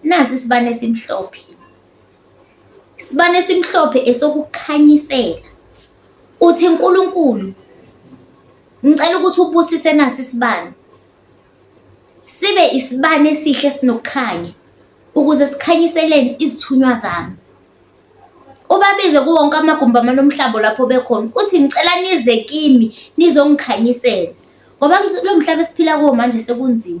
Nasi isibani esimhlophe. Isibani esimhlophe esokukhanyisela. Uthi Nkulunkulu ngicela ukuthi ubusise nasi isibani. Sibe isibani esihle esinokukhanya ukuze sikhanyiseleni izithunywa zami. Ubabize kuwonke amagumbi amanomhlaba lapho bekhona uthi ngicela nize kimi nizongikhanyisela ngoba lo mhlaba esiphila kuwo manje sekunzima.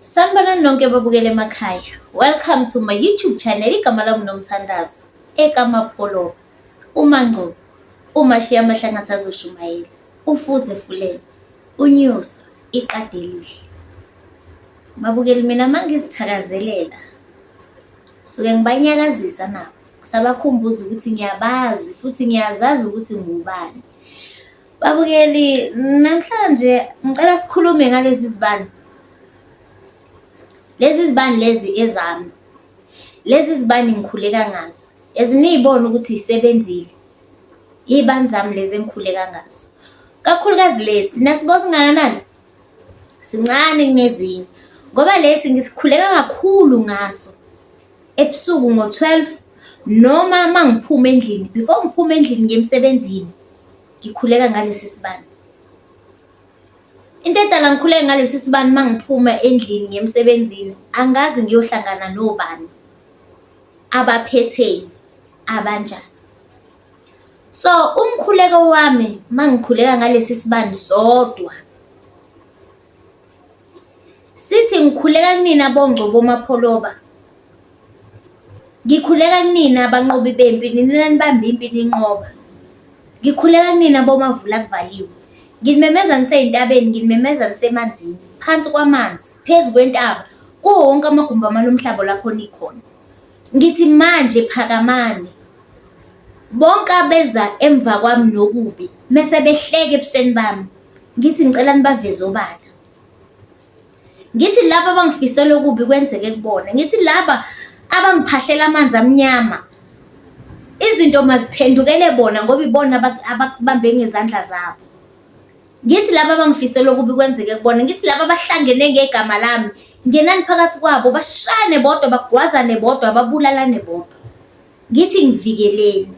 Sanibonani nonke babukele emakhaya. Welcome to my YouTube channel igama lami nomthandazo ekamapholo umangcubo umashiya amahlangathi azoshumayela ufuze fulele unyuswa iqadi elihle babukeli mina mangizithakazelela suke ngibanyakazisa nabo sabakhumbuza ukuthi ngiyabazi futhi ngiyazazi ukuthi ngubani Babukeli, namhlanje ngicela sikhulume ngalezi zibani. Lezi zibani lezi ezami. Lezi zibani ngikhuleka ngazo. Eziniyibona ukuthi yisebenzile. Iy'bani zami lezi engikhuleka ngazo. Kakhulukazi lesi, nasibo singakanani? Sincane kunezinye. Ngoba lesi ngisikhuleka kakhulu ngaso. ebusuku ngo-twelve noma uma ngiphuma endlini, before ngiphume endlini ngiye emsebenzini, ngikhuleka ngalesi sibani. Into edala ngikhuleke ngalesi sibani uma ngiphuma endlini ngiya emsebenzini, angazi ngiyohlangana nobani, abaphetheni, abanjani. So, umkhuleko wami uma ngikhuleka ngalesi sibani sodwa, Sithi ngikhuleka kunina bongcobo mapholoba. Ngikhuleka kunina banqobi bempi nina enanibamba impi ninqoba. Ngikhuleka kunina bomavula kuvaliwe. Nginimemeza ngisey'ntabeni, nginimemeza ngisemanzini, phansi kwamanzi, phezu kwentaba, kuwo wonke amagumbi amane omhlaba lapho nikhona. Ngithi manje phakamani bonke abeza emva kwami nokubi mese behleke ebusweni bami ngithi ngicela nibaveze obala ngithi laba abangifisela okubi kwenzeke kubona ngithi laba abangiphahlela amanzi amnyama izinto maziphendukele bona ngoba ibona abakubambe ngezandla zabo Ngithi laba abangifisela okubi kwenzeke kubona, ngithi laba abahlangene ngegama lami, ngenani phakathi kwabo, bashayane bodwa, bagwazane bodwa, babulalane bodwa. Ngithi ngivikeleni.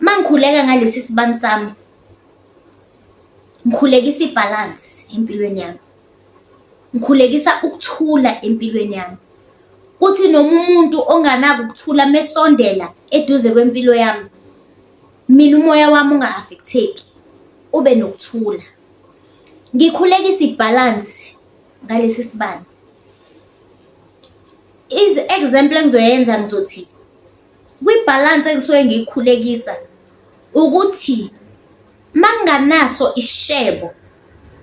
Uma ngikhuleka ngalesi sibani sami, ngikhulekisa ibhalansi empilweni yami, ngikhulekisa ukuthula empilweni yami. Kuthi noma umuntu onganako ukuthula mesondela eduze kwempilo yami, mina umoya wami unga-affecteki ube nokuthula ngikhulekisa ibhalansi ngalesi sibani izi-example engizoyenza ngizothi kwibhalansi engisuke ngiyikhulekisa ukuthi manginganaso ishebo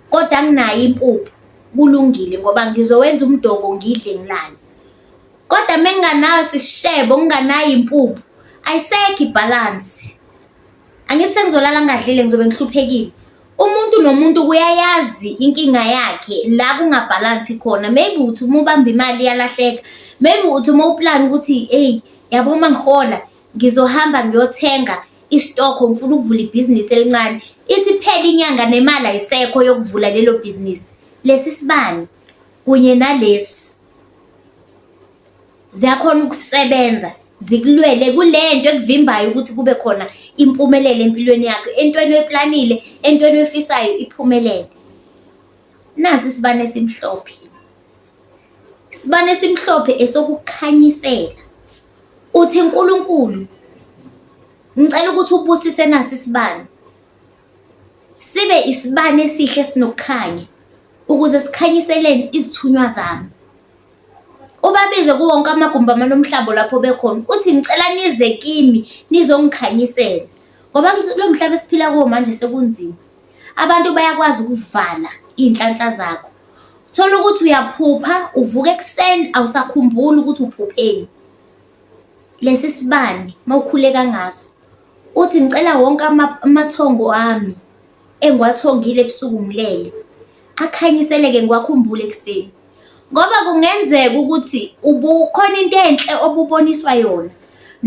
kodwa nginayo impuphu kulungile ngoba ngizowenza umdoko ngidle ngilale. Kodwa menginganayo sishebo nginganayo impuphu ayisekho ibhalansi. Angithi sengizolala ngingadlile ngizobe ngihluphekile. Umuntu nomuntu kuyayazi inkinga yakhe la kungabhalansi khona. Maybe uthi uma ubamba imali iyalahleka, maybe uthi uma uplana ukuthi eyi yabo uma ngihola ngizohamba ngiyothenga isitokho ngifuna ukuvula ibhizinisi elincane. Ithi iphele inyanga nemali ayisekho yokuvula lelo bhizinisi. Lesi sibani kunye nalesi. Ziyakhona ukusebenza zikulwele kule nto ekuvimbayo ukuthi kube khona impumelelo empilweni yakho, entweni oyiplanile, entweni oyifisayo iphumelele. Nasi isibani esimhlophe, isibani esimhlophe esokukhanyisela. Uthi Nkulunkulu ngicela ukuthi ubusise nasi isibani. sibe isibani esihle esinokukhanya ukuze sikhanyiseleni izithunywa zami. Ubabize kuwo wonke amagumbi amane omhlaba lapho bekhona, uthi ngicela nize kimi nizongikhanyisela ngoba kulo mhlaba esiphila kuwo manje sekunzima. Abantu bayakwazi ukuvala iy'nhlanhla zakho, uthole ukuthi uyaphupha uvuka ekuseni awusakhumbuli ukuthi uphupheni. Lesi sibani uma ukhuleka ngaso Uthi, Ngicela wonke amathongo ami engiwathongile ebusuku ngilele, akhanyiseleke ngiwakhumbule ekuseni, ngoba kungenzeka ukuthi khona into enhle obuboniswa yona,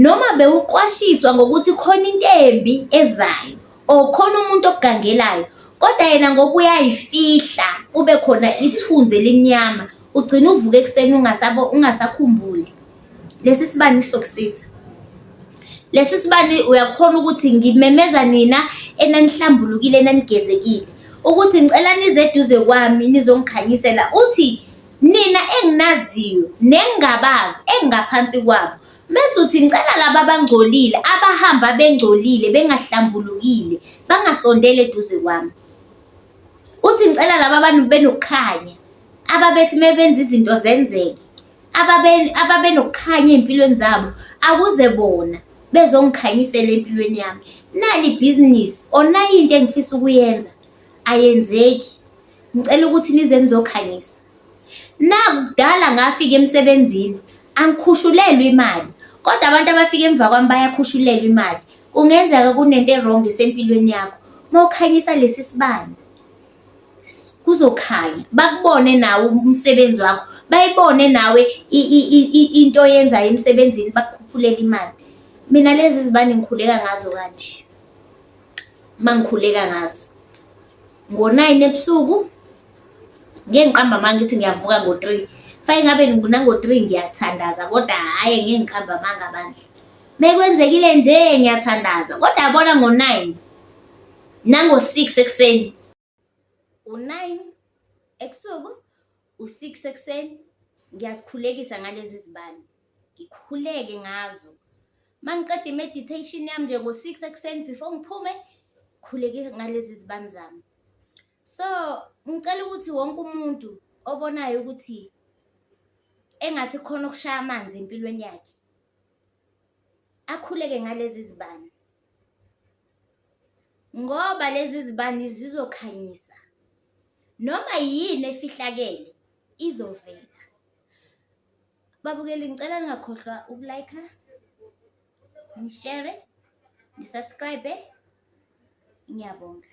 noma bewuqwashiswa ngokuthi khona into embi ezayo or khona umuntu okugangelayo, kodwa yena ngoba uyayifihla kube khona ithunzi elimnyama, ugcine uvuka ekuseni ungasakhumbuli. Lesi sibani sokusiza. Lesi sibani uyakhona ukuthi ngimemeza nina enanihlambulukile enanigezekile ukuthi ngicela nize eduze kwami nizongikhanyisela uthi nina enginaziyo nengingabazi engingaphansi kwabo mese uthi ngicela laba abangcolile abahamba bengcolile bengahlambulukile bangasondeli eduze kwami uthi ngicela laba abantu benokukhanya ababethi mebenza izinto zenzeke ababenokukhanya ey'mpilweni zabo akuze bona bezongikhanyisela empilweni yami nali ibhizinisi or nayi into engifisa ukuyenza ayenzeki ngicela ukuthi nize nizokhanyisa nakudala ngafika emsebenzini angikhushulelwe imali kodwa abantu abafika emva kwami bayakhushulelwa imali kungenzeka kunento e-wrong esempilweni yakho mawukhanyisa lesi sibani kuzokhanya bakubone nawe umsebenzi wakho bayibone nawe into oyenzayo emsebenzini bakukhuphulele imali mina lezi zibani ngikhuleka ngazo kanje uma ngikhuleka ngazo ngo-nine ebusuku ngeke ngiqamba amanga ukuthi ngiyavuka ngo-three fake ngabe nango-three ngiyathandaza kodwa hhayi ngeke ngiqamba amanga bandla mekwenzekile nje ngiyathandaza kodwa yabona ngo-nine Nango-six ekuseni, u-nine ebusuku, u-six ekuseni ngiyazikhulekisa ngalezi zibani, ngikhuleke ngazo. Uma ngiqeda i-meditation yami nje ngo-six ekuseni before ngiphume, ngikhuleke ngalezi zibani zami. So ngicela ukuthi wonke umuntu obonayo ukuthi engathi khona okushaya amanzi empilweni yakhe, akhuleke ngalezi zibani. ngoba lezi zibani zizokhanyisa noma yini efihlakele izovela. Babukeli ngicela ningakhohlwa ukulike, nishare, nisubscribe. Ngiyabonga.